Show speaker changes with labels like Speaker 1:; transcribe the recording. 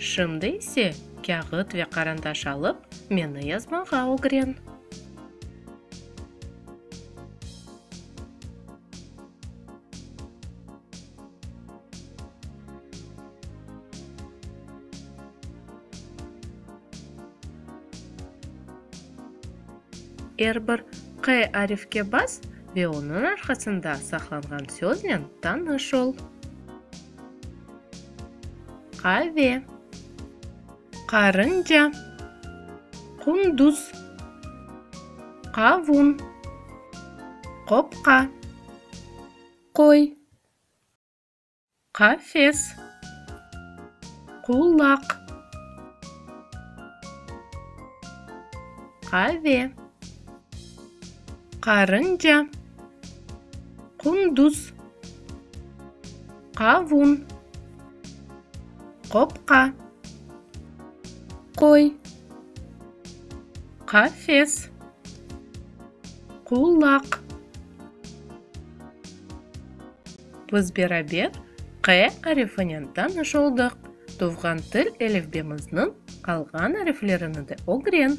Speaker 1: Şimdi ise kâğıt ve qarandaş alıp, meni yazmağa ögren. Er bir Q arifke bas ve onıñ arqasında saqlanğan söznen tanış ol. Qave. Qarınca. Qunduz. Qavun. Qopqa. Qoy. Qafes. Qulaq. Qave. Qarınca. Qunduz. Qavun. Qopqa. Qoy. Qafes. Qulaq. Biz beraber Q arifinen tanış oldıq. Tuvğan til elifbemizniñ qalğan ariflerini de ögren.